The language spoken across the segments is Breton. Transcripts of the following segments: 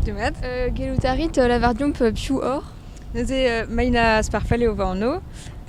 Demat. Euh, gellout a rit lavar deomp piv oc'h Neuze euh, Maina Sparfale o va anv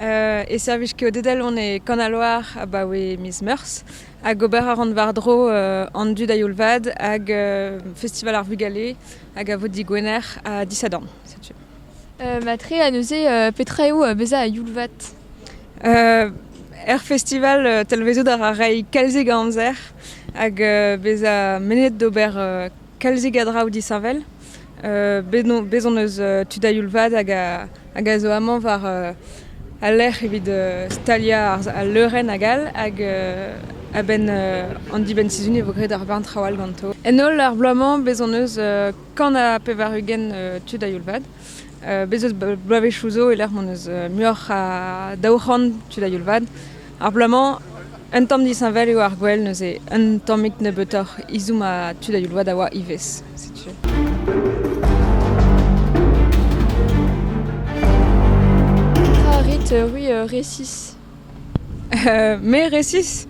euh, e servij ket o dedal on e Kanaloar abaoe miz Meurzh hag ober a ran war-dro euh, an dud a youl-vad hag euh, Festival ar Vugale hag a vo digwener ha disadorn. Setu. Euh, ma tre a neuze euh, petra eo bezañ a youl-vat Er festival talvezout a ra reiñ kalzik a amzer hag bezañ mennet d'ober kalzik a draoù disheñvel. Bez' hon eus tud a-youl-vat hag a zo amañ war al lec'h evit staliañ al leurenn hag all hag a-benn an dibenn-sizhun e vo graet ur barn traoù all ganto. En holl ar bloaz-mañ bez' hon eus kant ha pevar-ugent tud a-youl-vat. Bez' eus bloavezhioù zo e-lec'h m'hon eus muioc'h a daou c'hant tud a-youl-vat. Ar bloaz-mañ, un tamm disheñvel eo ar gwel neuze un tammig nebeutoc'h izhomm ha tud a-youl-vat a oa ivez, setu. Karet, erru, resis. Me resis,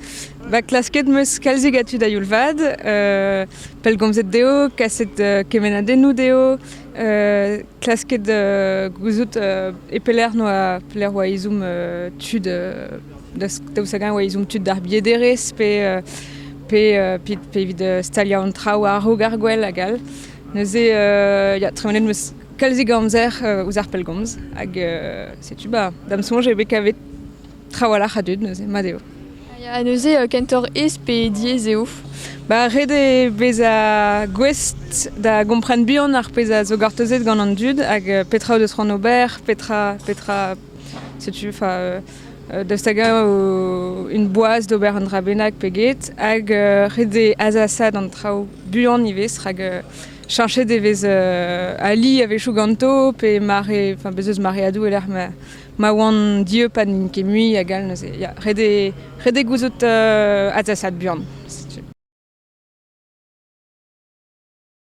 va klasket 'm eus kalzik a tud a-youl-vat, pellgomzet dezho, kaset kemennadennoù dezho, klasket gouzout e pelec'h 'noa pelec'h 'oa ezhomm tud daoust hag-eñ 'oa ezhomm tud d'ar biederezh pe pe pe evit staliañ an traoù a-raok ar gwell hag all. Neuze ya, tremenet 'm eus Kalzik amzer ouzh ar pellgomz hag setu ba da'm soñj eo bet kavet trawalc'h a dud neuze mat eo. Ha neuze kentoc'h aes pe diaes eo? Ba ret eo bezañ gouest da gompren buan ar pezh a zo gortozet gant an dud hag petra o deus c'hoant ober, petra petra setu fa daoust hag-eñ une boaz d'ober un dra bennak pe get hag ret eo azasaat an traoù buan ivez rak Cheñchet e vez ali a-wechoù ganto pe mare, enfin bez eus mareadoù e-lec'h ma, ma oant dieub ha n'int ket mui hag all neuze. Ya, ret eo, ret eo gouzout uh, adzasaat buan, setu.